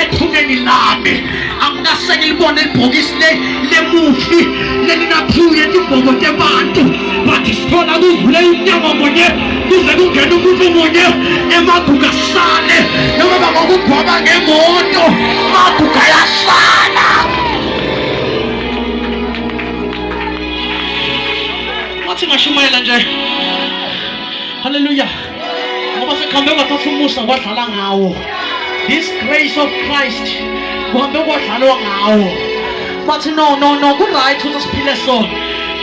ethuneni lami angikase ngilibone ibhokisi le lemufi lelinaphuye tibhobo tebantu but sithola kuvule umnyango munye kuze kungena umuntu munye emaguga sale noma bangokugwaba ngemoto maguga yasala wathi ngashumayela nje haleluya ngoba sekuhambe kwathatha umusa kwadlala ngawo this grace of christ kuhambe kwadlalwa ngawo bathi no no no ku-right ukuthi siphile so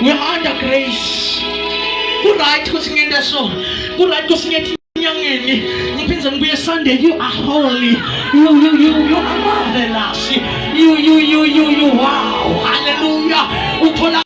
we are under grace ku-right ukuthi ngente so ku-right ukuthi ngethi enyangeni ngiphinde ngibuye sunday you are holy you you you you are marvelous you you you you you wow hallelujah uthola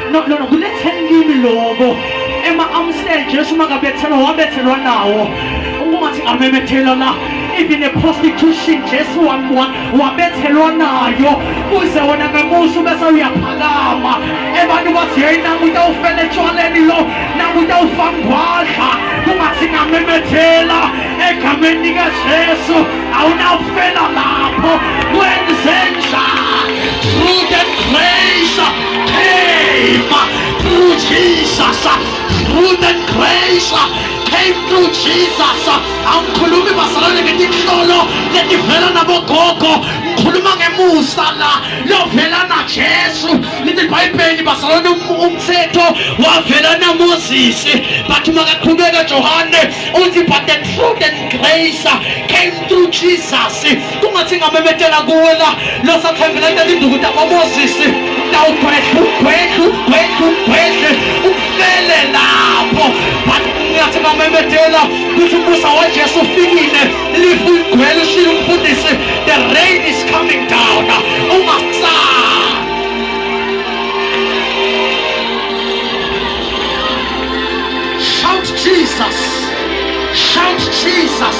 no no no kuletheni kimi lokho ema amsel Jesu makabethelwa wabethelwa nawo ungathi amemethela la even a prostitution Jesu wabethelwa nayo uze wona ngemusa ubese uyaphakama abantu bathi hey nangu utawufela etshwaleni lo nangu utawufa ngwadla kungathi ngamemethela egameni likaJesu awunawufela lapho kwenzenjani came through Jesus through the grace came through Jesus angikhulumi bazalwane ngetinhlolo letivela nabogogo ngikhuluma ngemusa la lovela najesu lithi libhayibheli bazalwane um-, umthetho wavela namosisi but makaqhubeka johane uthi but the truth and grace came through jesus kungathi ngamemethela kuwe la losathembela into elinduku takomozisi tawugwedlu gwedlu gwedlu gwedlu ufele lapho but ngathi ngamemethela kuthi ubusa wajesu ufikile lifu igwele ushile umfundisi the rain is coming down ungasali shout jesus shout jesus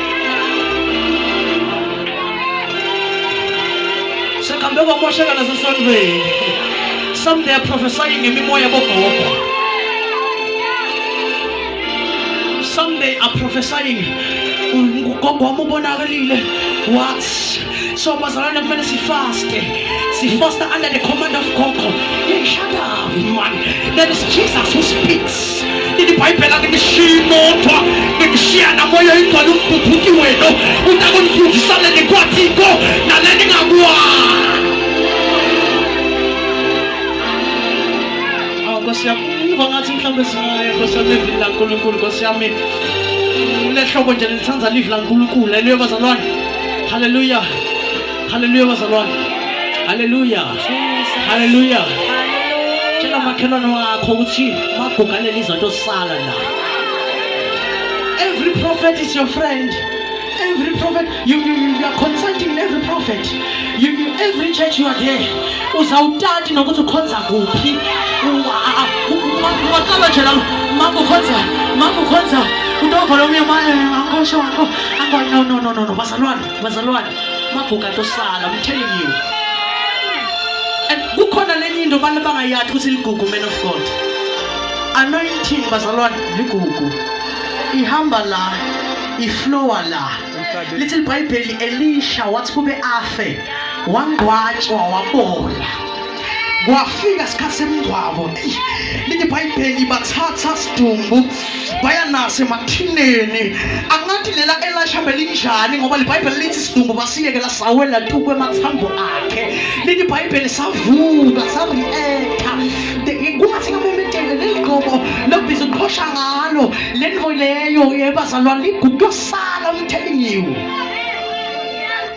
Sekambe kwamosheka nasesondweni. Some they are prophesying ngemimoya bogogo. Some they are prophesying ugogo wami ubonakalile. What? so bazalwane kumele sifaste sifaste under the command of gogo hey, shut up man there is jesus who speaks ilibhayibheli alinishiyi modwa nginishiya namoya ingcwele umbhubhuti wenu utakunifundisa leni kwathiko naleni ngakwazi nkosi yami ngiva ngathi mhlawumbe singaya nkosi yami evini lankulunkulu nkosi yami lehlobo nje lithanda livi lankulunkulu eliyo bazalwane Hallelujah. Hallelujah bazalwane. Hallelujah. Hallelujah. Tshela makhelwane wakho ukuthi magugalela izinto sala la. Every prophet is your friend. Every prophet you, you, you are consulting every prophet. You, you every church you are there. Uzawutati nokuthi ukhonza kuphi. Ungaqala nje la makukhonza makukhonza utovala umyama eh, angikosho Angwa, no, no, no, no, no. Bazalwane, bazalwane. Maguga tosala, I'm telling you. And kukhona lenye into abantu bangayathi ukuthi ligugu man of God. Anointing bazalwane ligugu. Ihamba la, iflowa la. Lithi iBhayibheli Elisha wathi kube afe, wangcwatshwa wabola. kwafika isikhathi semngcwabo lithi bhayibheli bathatha sidumbu baya naso emathineni angathi lela elashambe linjani ngoba libhayibheli lithi sidumbu basiyeke lasawela tu kwemathambo akhe lithi bhayibheli savuka sarieka kungathi ngamemedele leli gqobo lokubiza uqhosha ngalo le nto leyo yebazalwane ligugu yosala umthelingiwe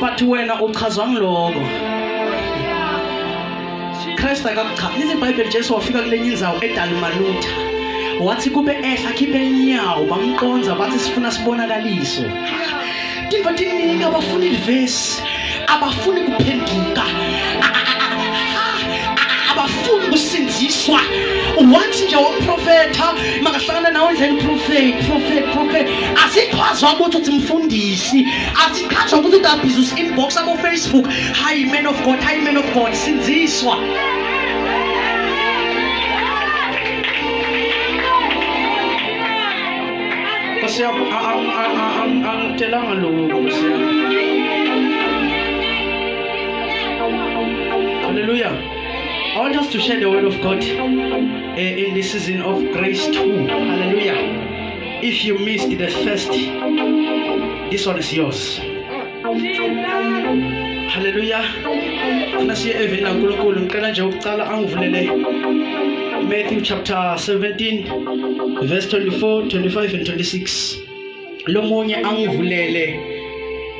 but wena uchazwa ngiloko Christ akakuchaza lithi iBhayibheli Jesu wafika kulenye inzawo eDalumalutha wathi kube ehla khiphe inyawo bamqonza bathi sifuna sibonakaliso tiva tiningi abafuni livesi abafuni kuphenduka abafuni kusinziswa wathi nje waprofetha makahlangana nawo ndlela uprofethi profethi profethi asichazwa ukuthi uthi mfundisi asichazwa ukuthi uthi abusiness inbox abo Facebook hi man of God hi man of God sinziswa Kasi ako, ang, ang, ang, ang, kailangan lumubog siya. Hallelujah. I want us to share the word of God uh, in this season of grace too. Hallelujah. If you missed the first, this one is yours. Hallelujah. Funa siye eveni laNkulunkulu. Ngicela nje ukucala angivulele Matthew chapter 17 verse 24, 25 and 26. Lomunye angivulele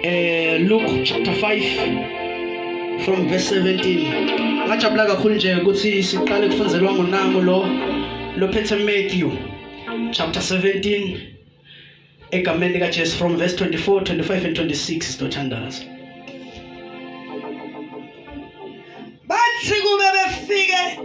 eh Luke chapter 5 from verse 17. Ngajabula kakhulu nje ukuthi siqale kufunzelwa ngonango lo lophethe Matthew chapter 17 egameni likajesu from verse 24 25 and 26 sizothandaza bathi kube befike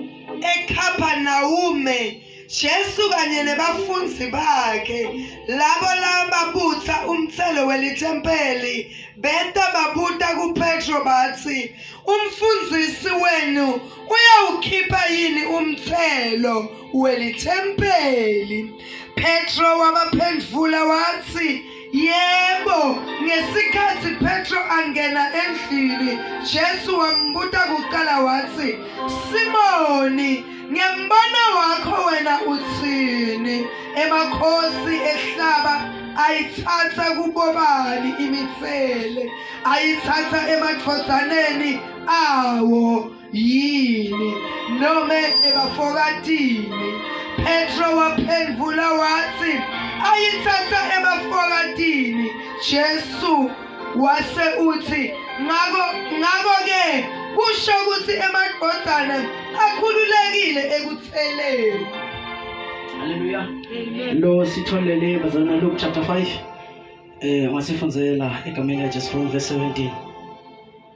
ekhapanawume Jesu kanye nebafunzi bakhe labo lababutha umthelo welithempeli beta babuta kuPetro bathi umfundisi wenu Uyawukhipha yini umthelo welithempeli? Petro wabaphendula wathi, Yebo, ngesikhathi Petro angena endlini, Jesu wambuta kuqala wathi, Simoni, ngembona wakho wena uthini? Emakhosi ehlaba ayithatha kubobani imithele ayithatha emadvodzaneni awo yini noma ebafokatini Petro waphendula wathi ayithatha ebafokatini Jesu wase uthi ngakho ngakho ke kusho ukuthi emadodana akhululekile ekutheleni Haleluya lo sitholele bazana Luke chapter 5 eh wasifundzela egameni likaJesu from verse 17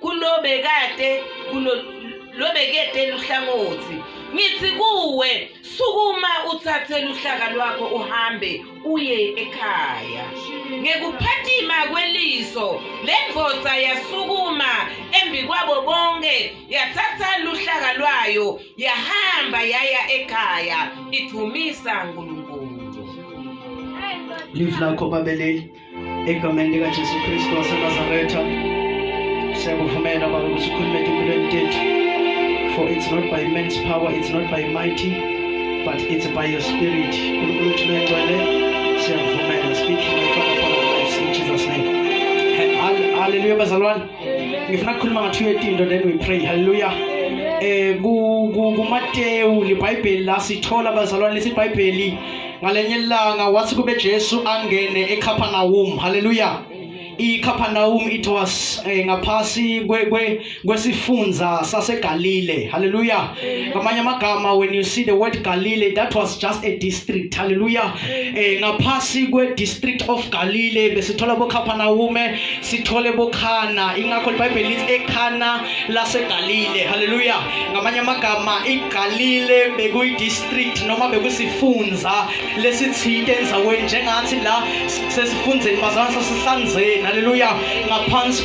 kulobekade kulo lobekede luhlangothi ngithi kuwe sukuma uthathe luhlaka lwakho uhambe uye ekhaya ngekuphathima kweliso le ndoda yasukuma embi kwabo bonke yathatha luhlaka lwayo yahamba yaya ekhaya idumisa uNkulunkulu live lakho babeleli egameni likajesu kristu wasenazaretha siyakuvumela baba ukuthi ukhulume empilweni tethu for it's not by man's power it's not by mighty but it's by your spirit unkulunkulu wethu lengcwele siyakuvumela speak my father for our lives in jesus name haleluya bazalwane ngifuna kukhuluma ngathi uyetinto then we pray haleluya um kumatewu libhayibheli la sithola bazalwane lesibhayibheli ngalenye ilanga wathi kube Jesu angene eCapernaum haleluya iCapernaum it was eh, ngaphasi kwe kwesifunza saseGalile haleluya ngamanye amagama when you see the word Galile that was just a district haleluya eh, ngaphasi kwe district of Galile besithola boCapernaum sithole boKhana ingakho iBhayibheli lithi eKhana laseGalile haleluya ngamanye amagama iGalile bekuyidistrict noma bekusifunza lesithinte enzaweni njengathi la sesifundzeni bazalwane sasihlanzeni haleluya ngaphansi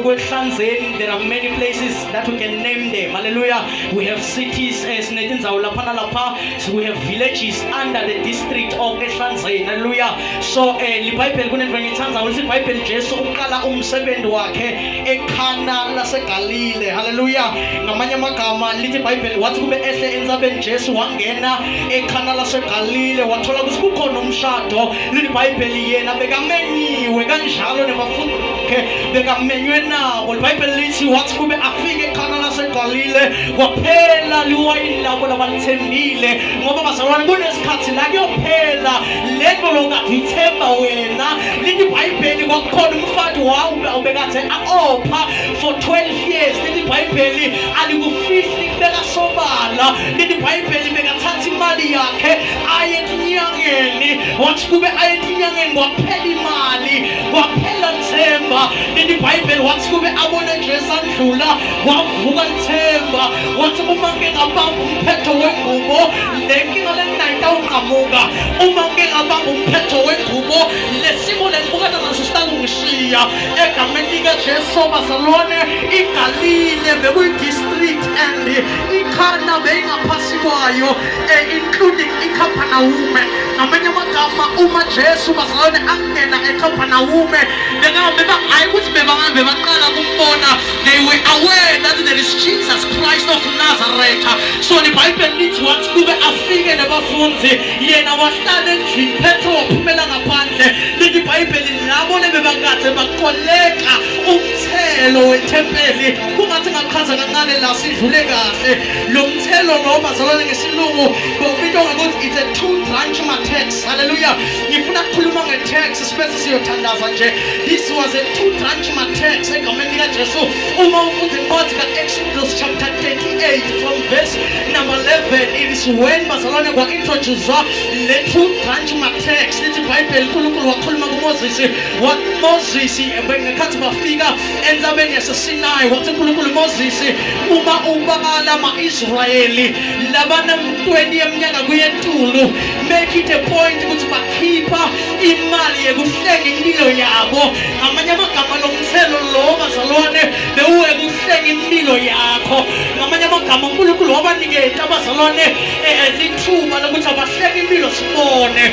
kwehlanzeni there are many places that we can name them haleluya we have cities eh, sinetindzawo lapha nalapha we have villages under the district of ehlanzeni haleluya so um libhayibheli kunento engiyithandayo lithi ibhayibheli jesu uqala umsebenzi wakhe ekhana lasegalile haleluya ngamanye amagama lithi ibhayibheli wathi kube ehle entsabeni jesu wangena ekhana lasegalile wathola ukuthi kukhona umshado lithi ibhayibheli yena bekamenyiwe kanjalo nebafundi bakhe bekamenywe nabo libhayibheli lithi wathi kube afike ekhana lasegalile kwaphela liwayini labo labalithembile ngoba bazalwane kunesikhathi la kuyophela lento lokade ithemba wena lithi ibhayibheli kwakukhona But wow ubekathe aopha for 12 years leli bhayibheli alikufihli kubeka sobala leli bhayibheli bekathatha imali yakhe aye etinyangeni wathi kube aye etinyangeni kwaphela imali kwaphela lithemba leli bhayibheli wathi kube abone jesu adlula wavuka lithemba wathi uma ke ngabamba umphetho wengubo le nkinga le nginayitawuqamuka uma ke ngabamba umphetho wengubo lesimo lengibukana naso sitangishiya egameni likajesu bazalwane igalile bekuyidistrict and ikhana beyingaphasi kwayo eh, including ikhampanawume ngamanye amagama uma jesu bazalwane angena ekhampanawume bengahambe bangayi ukuthi bebangahambe baqala kumbona they were aware that there is jesus christ of nazareth so libhayibheli lithi wathi kube afike nabafundi yena wahlala endlini phetho waphumela ngaphandle lithi ibhayibheli labo lebebakade bakoleka umthelo wethempeli kungathi ngachaza kancane la sidlule kahle lo mthelo lo bazalwane ngesilungu bawubitwa ngokuthi it's a two branch matex haleluya ngifuna kukhuluma ngetex sibese siyothandaza nje this was a two branch matex egameni likajesu uma ufunda incwadi ka-exodus chapter 38 from verse number 11 it is when bazalwane kwa-introducwa le two branch matext ithi ibhayibheli unkulunkulu wakhuluma kumoses what moses ngekhathi bafika entabeni yasesinayi wathi unkulunkulu moses uma ubala ama-israyeli labana mntweni yeminyaka kuyentulu make it a point ukuthi bakhipha imali yekuhlenga impilo yabo ngamanye amagama Thelo lo bazalwane bewuweka ukuhleka impilo yakho ngamanye amagama unkulunkulu wabaniketa abazalwane eh, eh, lithuba lokuthi abahleke impilo sibone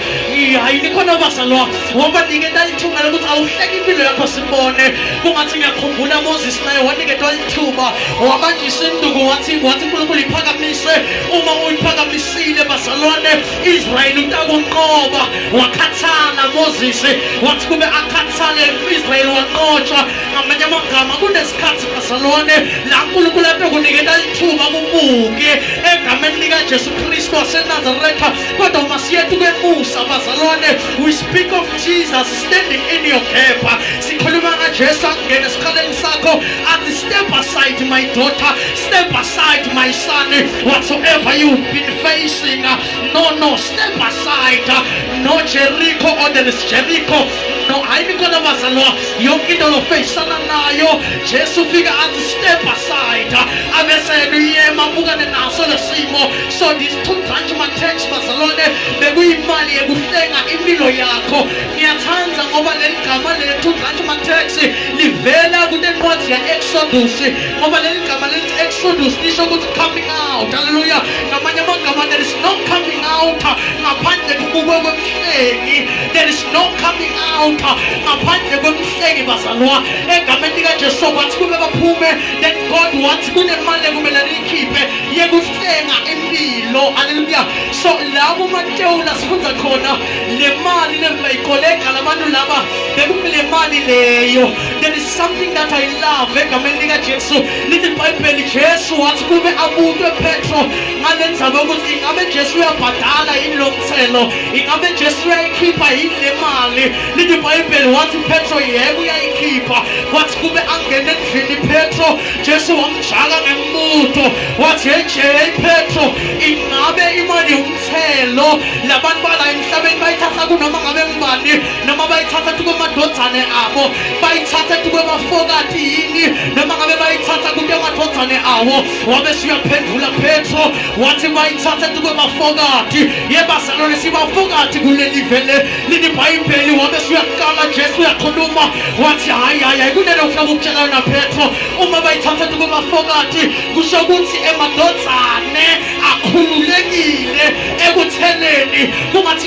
hayi nikhona bazalwa wabaniketa lithuba lokuthi awuhleke impilo yakho sibone kungathi ngiyakhumbula moses naye waniketwa lithuba wabanjisa induku wathi wathi unkulunkulu iphakamise uma uyiphakamisile bazalwane Israyeli utakunqoba wakhathala Moses wathi kube akhathale Israyeli wanqotshwa ngamanye amagama kunesikhathi kasalone la Nkulunkulu abe kunikela ithuba kubuke egameni lika Jesu Kristu waseNazaretha kodwa uma siyethu kwemusa bazalwane we speak of Jesus standing in your gap sikhuluma ngaJesu akungena esikhaleni sakho athi step aside my daughter Step aside, my son. Whatsoever you've been facing, uh, no, no, step aside. Uh, no Jericho or there is Jericho. No, hayi mikona bazalwa yonke into lofeyisana nayo jesu ufika athi step aside uh, abesena uyema abukane naso lesimo so these two branch matex bazalwane bekuyimali yekuhlenga impilo yakho ngiyathanda ngoba leli gama lethu branch matex livela kunencwadi ya-exodus ngoba leli gama lithi exodus lisho ukuthi coming out haleluya ngamanye amagama there is no coming out ngaphandle kubukwe kwemhlengi there is no coming out ngaphandle kwemhlengi bazalwa egameni likajesu kwathi kube baphume then god wathi kunemali ekumele niyikhiphe yekuhlenga impilo haleluya so la kumatewula sifunda khona le mali lebayikolega labantu laba bekumele mali leyo There is something that I love egameni lika Jesu lithi iBhayibheli Jesu wathi kube abutwe Petro ngale ndzaba ukuthi ingabe Jesu uyabhadala yini lo mthelo ingabe Jesu uyayikhipha yini le mali lithi iBhayibheli wathi Petro yebo uyayikhipha wathi kube angene endlini Petro Jesu wamjaka ngembuto wathi hey hey Petro ingabe imali yomthelo labantu bala emhlabeni bayithatha kunoma ngabe ngubani noma bayithatha kube amadodane abo bayithatha kube bafokati yini noma ngabe bayithatha kube amadodane awo wabe siyaphendula petro wathi bayithatha kube bafokati yebazalwane sibafokati kuleli vele lini bhayibheli wabe siyakukala jesu uyakhuluma wathi hhayi hhayi hhayi kunento ngifuna ukukutshela yona petro uma bayithatha kube bafokati kusho ukuthi emadodane akhululekile ekutheneni kungathi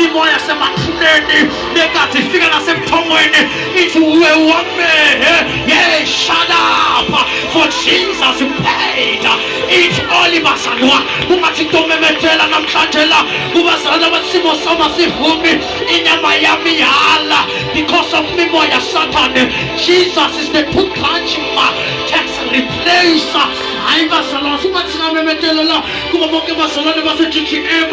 imimoya yasemafuleni nekathi ifika nasemthongweni ithi uwe wamehe ye shut up for jesus paid it all bazalwa kungathi into omemethela namhlanje la kubazalwa abasimo soma sivumi inyama yami yala because of mimoya sathane jesus is the two punch ma tax replacer hayi bazalwa subathina memetelela kuba bonke bazalwane base-ggm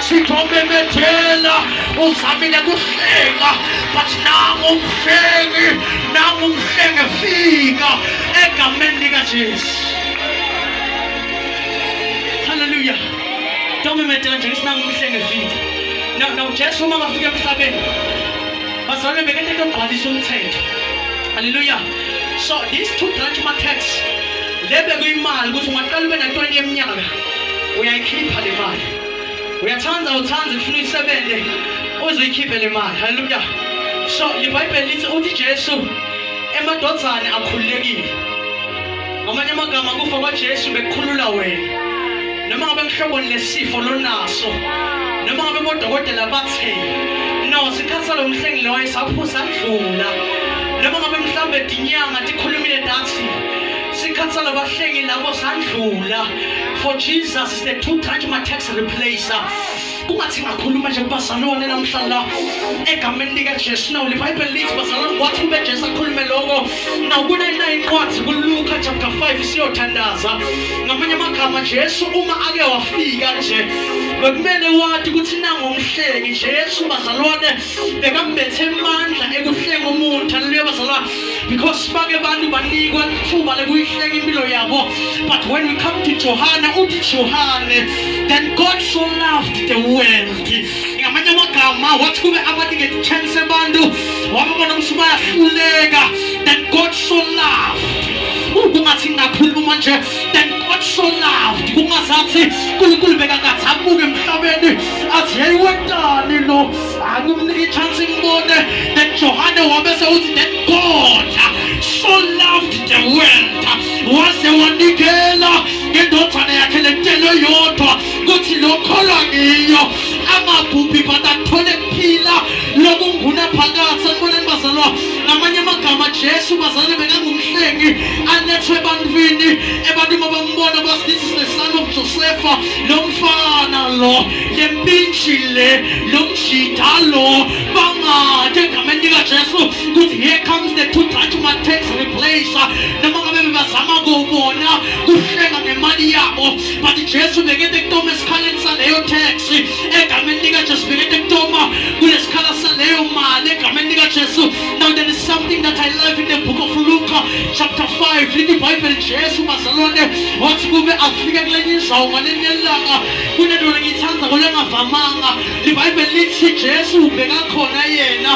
sitomemethela uzamile kuhlenga but nangumhlengi nangumhlenge fika egameni likajesu halleluya tomemethela nje ngisinangumhlenge fika nawujesu uma ngafika emhlabeni bazalwane bekete togqwalisa umthetho halleluya so these two branch markets le bekuyimali ukuthi ungaqala ube na-20 yeminyaka uyayikhipha le mali uyathanda uthanda ufuna isebenze uzikhiphe le mali haleluya so ibhayibheli lithi uthi jesu emadodane akhululekile ngamanye amagama kufa kwajesu bekukhulula wena noma ngabe kuhloboni lesifo lonaso noma ngabe bodokotela bathe no sikhathi salo mhlengi loyo saphusa kudlula noma ngabe mhlawumbe dinyanga tikhulumile dathi sikhathi salabahlengi labo sandlula for jesus the two touch my text replacer kungathi ngakhuluma nje kubazalwane namhlanje la egameni likajesu nawo libhayibheli lithi bazalwane wathi ube jesu akhulume loko nakunayinayo incwadi kuluka chapter 5 isiyothandaza ngamanye amagama jesu uma ake wafika nje bekumele wati ukuthi nangomhleki jesu bazalwane bekambethe emandla ekuhlenga umuntu haleluya bazalwane because bake abantu banikwa ithuba lekuyihlenga impilo yabo but when we come to johane uthi johane then god so loved the world ngamanye amagama wathi kube abanike chance abantu wababona ukuthi bayahluleka then god so loved kungathi ngakhuluma manje then god so loved kungazathi unkulunkulu bekakathi abuke emhlabeni athi yeyewentani lo Angimnike ichance imbone that Johane wabese uthi that God so loved the world waze wanikela ngendodana yakhe lentelo yodwa kuthi lokholwa ngiyo angabhubhi but athole kuphila lokunguna phakathi sanibonani bazalwa ngamanye amagama jesu bazalwane bekangumhlengi alethwe ebantwini ebantwini abambona basithi is the son of josefa lo mfana lo le mintshi le lo mjita lo bangathe egameni likajesu ukuthi here comes the two touch matex replacer noma ngabe bebazama kuwubona kuhlenga ngemali yabo but jesu bekete kutoma esikhaleni saleyo taxi egameni likajesu bekete kutoma kule sikhala saleyo mali egameni likajesu now there is something that i love in the book of luka chapter 5 lithi ibhayibheli jesu bazalwane wathi kube afike kulenye indawo ngaleli yelanga kunedona ngiyithanda kolengavamanga libhayibheli lithi jesu ubekakhona yena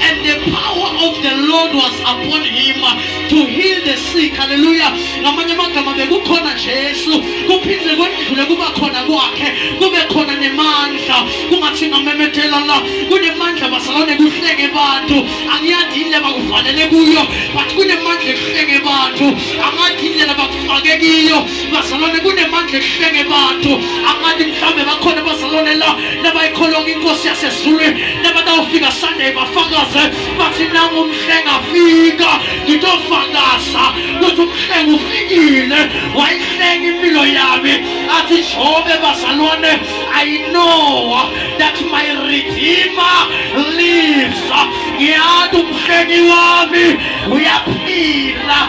and the power of the lord was upon him to heal the sick haleluya ngamanye amagama bekukhona jesu kuphinde kwendlule kuba khona kwakhe kube khona nemandla kungathi ngamemethela la kunemandla basalone kuhleke bantu angiyazi yini lebakuvalele kuyo but kunemandla ekuhleke bantu angathi yini lelabakufake kiyo bazalwane kunemandla ehlenge abantu angathi mhlawumbe bakhona bazalwane la nabayikholonga inkosi yasezulwini nabatawufika sunday bafakaze bathi nangu umhlenga afika ngitofakaza ukuthi umhlenga ufikile wayihlenga impilo yami athi jobe bazalwane i know that my redeemer lives ngiyathi umhlengi wami uyaphila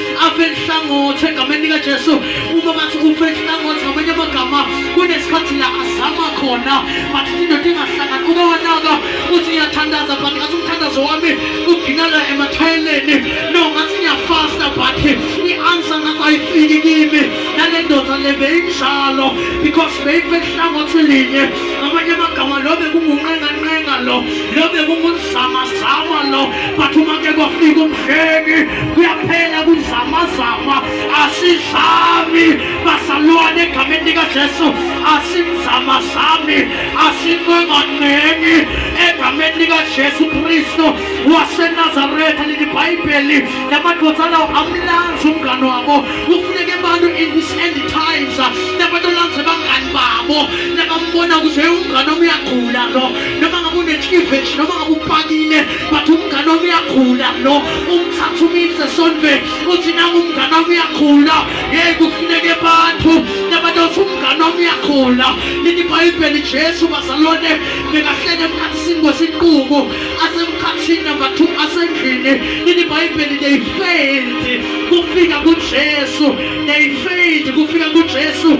afe nhlangothi egameni likajesu uma bathi ufe nhlangothi ngamanye amagama kunesikhathi la azama khona but indoda ingahlangani uke wanaka uthi ngiyathandaza but ngathi umthandazo wami uginala emathayeleni no ngathi ngiyafasta but i-answer ngathi ayifiki kimi nale ndoda le beyinjalo because beyife nhlangothi linye ngamanye amagama lo bekungunqenganqenga lo lo bekungu zamazama lo but uma ke kwafika umhleki kuyaphela kuzamazama asizami basalwane egameni likajesu asimzamazami asinqenganeni egameni likajesu kristu wasenazaretha leli bhayibheli namadvodzana amlanzi umngane wabo kufuneka abantu in this end times nabantu olanze bangani babo nabambona ukuthi umngane omuyagula lo noma ngabe unecleavage noma ngabe upakile but umngane wami uyakhula lo umthatha umise esontweni uthi nangu umngane wami uyakhula yeyi kufuneke bantu nabantu othi umngane wami uyakhula lini ibhayibheli jesu bazalwane bekahlele emkhathini kwesinqubo asemkhathini number two asendlini lini ibhayibheli they failed kufika kujesu they failed kufika kujesu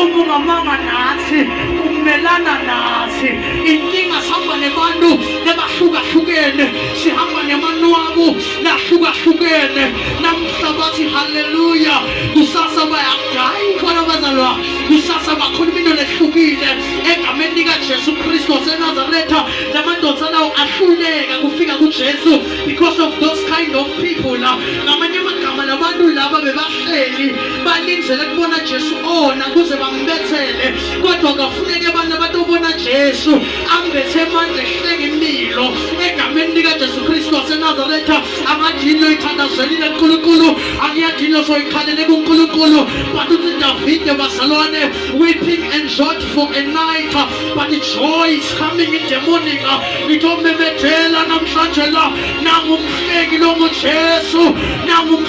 uma ungamanga nathi umelana nathi inkinga sihamba nebantu nebahlukahlukene sihamba nemanwabu nahlukahlukene namuhla bathi haleluya kusasa bayagayi ukhona bazalwa kusasa bakhuluma into lehlukile egameni likajesu kristu wasenazaretha la madoda lawo ahluleka kufika kujesu because of those kind of people la ngamanye amagama labantu laba bebahleli balindele kubona Jesu ona kuze bambethele kodwa kafuneke abantu abatobona Jesu ambethe amandla ehleke impilo egameni lika Jesu Kristu waseNazaretha amajini oyithandazelile uNkulunkulu akuyajini osoyikhalele kuNkulunkulu but uthi Davide bazalwane weeping and short for a night but joy is coming in the morning ngithomemethela namhlanje la nangumhleki longuJesu nangumhleki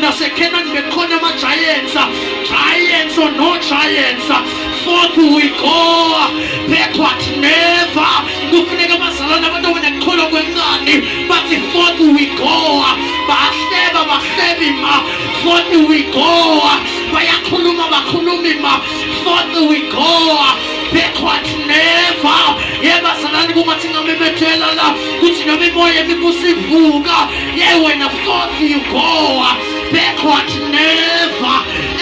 nasekhenani bekhona ama-giants giants or no giants forth we go backward never kufuneka bazalane abantu abanekholwa kwencane bathi forth we go bahleba bahlebi ma forth we go bayakhuluma bakhulumi ma forth we go backward never yebazalane kungathi ngamemethela la kuthi noma imoya ebikusivuka yewena fothi yigowa backward never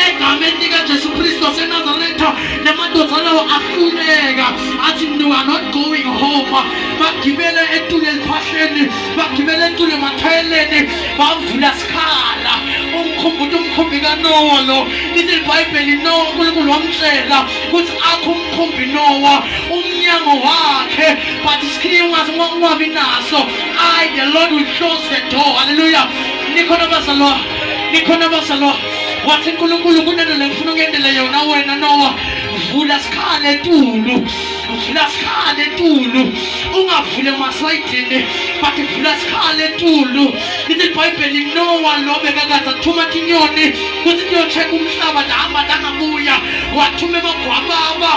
egameni likajesu kristu wasenazaretha namadoda lawo ahluleka athi you are not going home bagibele etule eliphahleni bagibele etule emathayeleni bavula sikhala umkhumbuti umkhumbi kanowa lo lithi libhayibheli no unkulunkulu wamtshela ukuthi akho umkhumbi nowa umnyango wakhe but isikhini ungazi ungabi naso i the lord will close the door halleluya nikhona bazalwa nikhona bazalwa wathi nkulunkulu kunento lengifuna ukuyendele yona wena nowa vula sikhala etulu vula sikhala etulu ungavule masayidini but vula sikhala etulu lithi ibhayibheli nowa lo bekakaze athuma tinyoni kuthi niyocheka umhlaba ndahamba ndangabuya wathuma emagwababa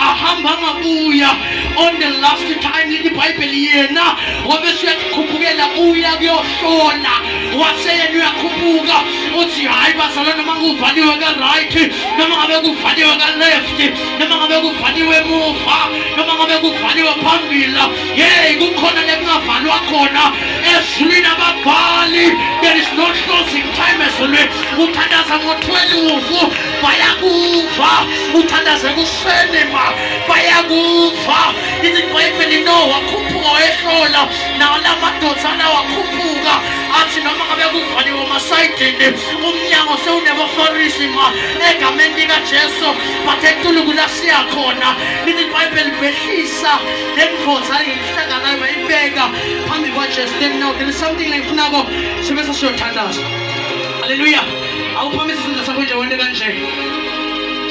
ahamba angabuya on the last time lithi ibhayibheli yena wabese uyakukhuphukela uya kuyohlola waseyena uyakhuphuka uthi hhayi bazala noma kuvaliwe ka-right noma ngabe kuvaliwe ka-left noma ngabe kuvaliwe emuva noma ngabe kuvaliwe phambili Yey kukhona lekungavalwa khona ezulwini ababhali there is no closing time ezulwini uthandaza ngothwele uvu bayakuva uthandaze kuseni ma bayakuva ithi ibhayibheli no wakhuphuka wayehlola nawo la madoda alawakhuphuka athi noma ngabe kuvaliwe umasayidini umnyango sewunebafarisi ma egameni likajesu bathe ntuluku lasiyakhona lithi ibhayibheli behlisa Ndimkhotha inhlaka nayo mayibeka phambi kwaJesu then now there is something layifunako sibe sesiyothandaza. Hallelujah. Awuphamise isandla sakho nje wente kanje.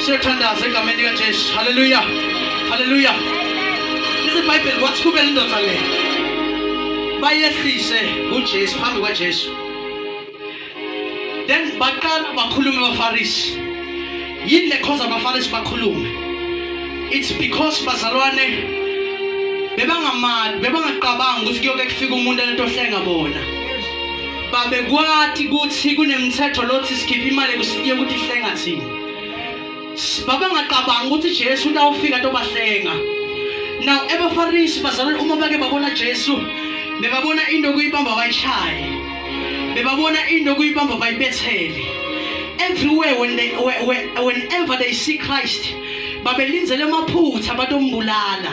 Siyothandaza egameni likaJesu. Hallelujah. Hallelujah. Lithi iBhayibheli kwathi kube indoda le. Bayehlise kuJesu phambi kwaJesu. then baqala bakhulume abafarisi yini le cause abafarisi bakhulume it's because bazalwane bebangamali bebangaqabanga ukuthi kuyoke kufika umuntu enetohlenga bona babekwati ukuthi kunemthetho lothi sikhiphe imali yokuthi ihlenga thina babengaqabangi ukuthi Jesu utawufika tobahlenga now abafarisi bazalwane uma bake babona Jesu bebabona into okuyibamba bayishaye bebabona into okuyibamba bayibethele everywhere when they, whenever they see Christ babelinzele amaphutha batombulala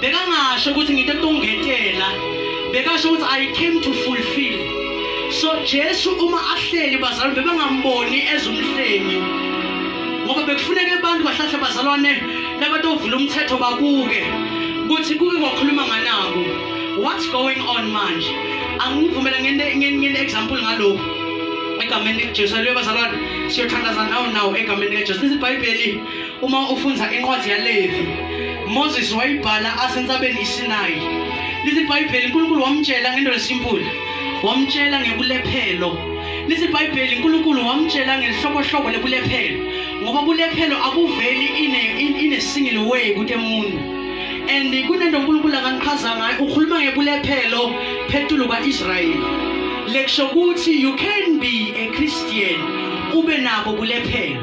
bekangasho ukuthi ngito tongetela bekasho ukuthi i came to fulfill so jesu uma ahleli bazalwane bebangamboni as umhlengi ngoba bekufuneka abantu bahlahle bazalwane labatovula umthetho babuke ukuthi kuke kwakhuluma nganako what's going on manje angivumela ngene-example ngalokhu egameni likajesu aleluya bazalwane siyothandaza nawo nawo egameni likajesu lizibhayibheli Uma ufunda incwadi yaLevi, Moses wayibhala asentabeni iSinayi. Lithi iBhayibheli uNkulunkulu wamtshela ngento lesimpula, wamtshela ngebulephelo. Lithi iBhayibheli uNkulunkulu wamtshela ngelihlobohlobo lebulephelo, ngoba bulephelo akuveli in a, in, in a single way kude muntu and kunento uNkulunkulu akangichaza ngayo ukhuluma ngebulephelo phethulu kwa-Israyeli lekusho ukuthi you can be a Christian ube nabo bulephelo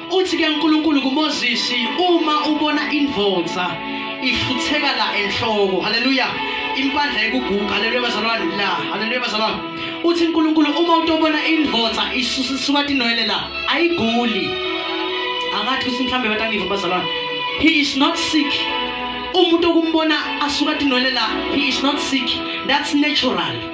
Uthi ke uNkulunkulu kuMoses uma ubona indvodza ifutheka la enhloko. Haleluya. Impandla ekuguga. Haleluya bazalwane la. Haleluya bazalwane. Uthi uNkulunkulu uma utobona indvodza isuka tinwele la ayiguli. Angathi kuthi mhlambe batangiva bazalwane. He is not sick. Umuntu okumbona asuka tinwele la he is not sick. That's natural.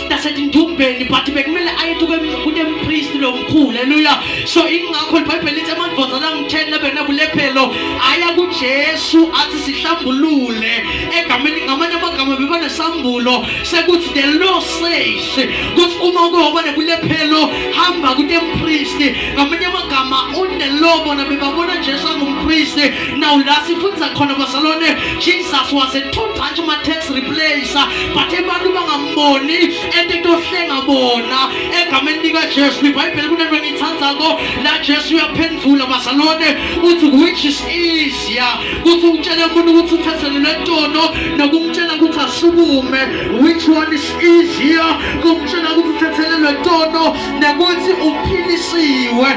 nasetindumbeni but bekumele aye kunempristi lomkhulu eluya so ingakho libhayibheli lithi amadvozana angitheni abenabulephelo aya kujesu athi sihlambulule egameni ngamanye amagama bebanesambulo sekuthi the law says kuthi uma uke waba nebulephelo hamba kunempristi ngamanye amagama unelaw bona bebabona jesu angumpristi naw la sifundisa khona bazalwane jesus was a total ma-tax replacer but abantu bangam boni and tohlenga bona egameni likajesu ibhayibheli kunento engiyithandzako la jesu uyaphendvula bazalwane uthi which is easier kuthi umtshele umuntu ukuthi uthethelele ntono nokumtshela ukuthi asukume which one is easier kumtshela ukuthi uthethelelwe ntono nekuthi uphilisiwe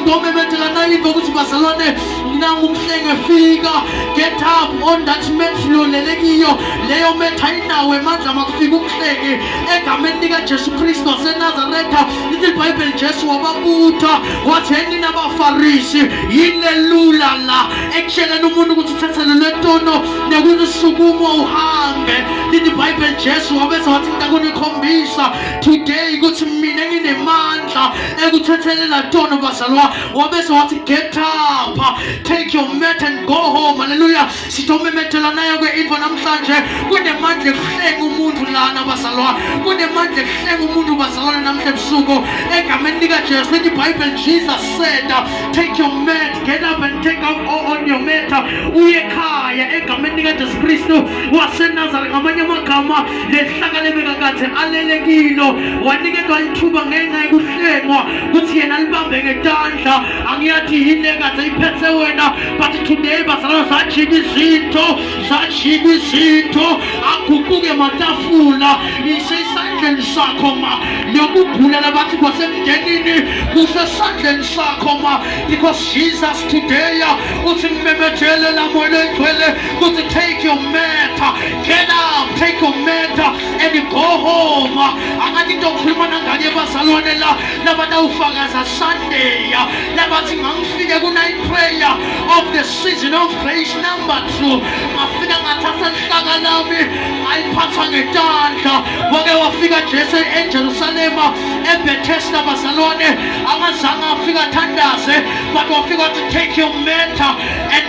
ngomemedela nayiva ukuthi bazalwane nangu umhlenge fika get up on that mat lolele kiyo leyo mat ayinawo emandla makufika umhlenge egameni likajesu kristu wasenazaretha lithi libhayibheli jesu wababutha wathi yeni nabafarisi yini lelula la ekutsheleni umuntu ukuthi uthethelelwe tono nekuthi usukumo uhambe lithi ibhayibheli jesu wabese wathi ntakunikhombisa today ukuthi mina nginemandla ekuthethelela tono bazalwa Wabese wathi get up, take your mat and go home. Hallelujah. Sitomemethela nayo ke into namhlanje. Kunemandla ekuhlenga umuntu lana bazalwa. Kunemandla ekuhlenga umuntu bazalwane namhla ebusuku. Egameni lika Jesu lithi Bible Jesus said, take your mat, get up and take up on your mat. Uye ekhaya egameni lika Jesu Kristu waseNazareth ngamanye amagama lehlakale bekakade alele kilo waniketwa lithuba ngenxa yokuhlengwa kuthi yena libambe ngetandla angiyathi yini ekade iphethe wena but today bazalwa zajika izinto zajika izinto aguquke matafula isesandleni sakho ma yokugula labathi kwasemndenini kusesandleni sakho ma because jesus today uthi mmemejele lamoyelo egcwele kuthi take your matter Get up, take your mat and go home. Angathi into okhuluma nangane yabazalwane la labatawufakaza Sunday labathi ngangifike ku-night prayer of the season of grace number two ngafika ngathatha lihlaka lami ngayiphatha ngetandla wake wafika Jesu eJerusalema eBethesda bazalwane angazange afika thandaze but wafika wathi take your mat and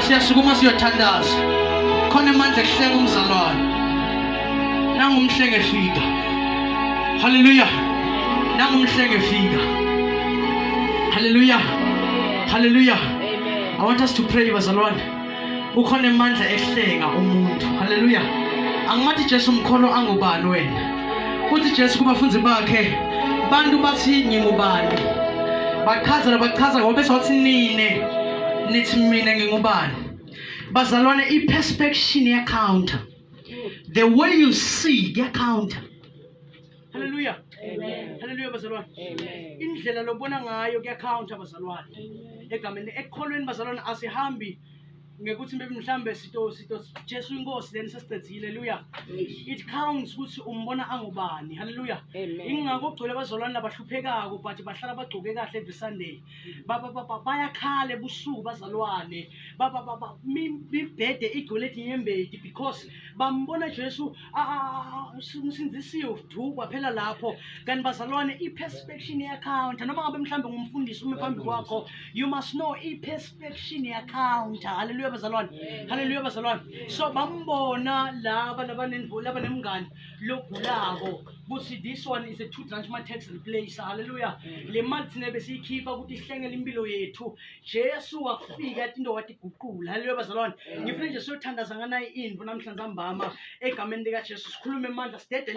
siyasukuma siyothandaza khona emandla ekuhleka umzalwane nangumhlenge fika haleluya nangumhlenge fika haleluya haleluya i want us to pray bazalwane ukhona emandla ehlenga umuntu haleluya angimathi jesu mkholo angubani wena uthi jesu kubafundi bakhe bantu bathi ngingubani bachazela bachaza ngoba besathi nine nithi mina ngingubani bazalwane i-perspection yacounter the way you see yacounter halleluya halleluya bazalwane indlela lobona ngayo kuyacounter bazalwane egameni ekukholweni bazalwane asihambi ngekuthi maybe mhlambe sito sito Jesu inkosi then sesicedzile haleluya it counts ukuthi umbona angubani haleluya ingakho gcwele bazolwana labahluphekako but bahlala bagcoke kahle every sunday baba baba bayakhala ebusuku bazalwane baba baba mi- mibhede igcwele inyembedi because bambona jesu ah, ah, ah, umsindisiwe udukwa phela lapho kanti bazalwane i-perspection ye-akhawunta noma ngabe mhlawumbe ngumfundisi ume phambi kwakho you must know i-perspection ye-akhawunta haleluya bazalwane haleluya bazalwane so bambona laba labanenvo- labanemngani logulako kuthi this one is a two branch ma tax replace haleluya mm. le mali thina besiyikhipha ukuthi ihlengele impilo yethu jesu wafika athi into watiguqula haleluya bazalwane mm. ngifuna nje siyothandaza nganayo indlu namhlanje ambama egameni likajesu sikhulume emandla sidede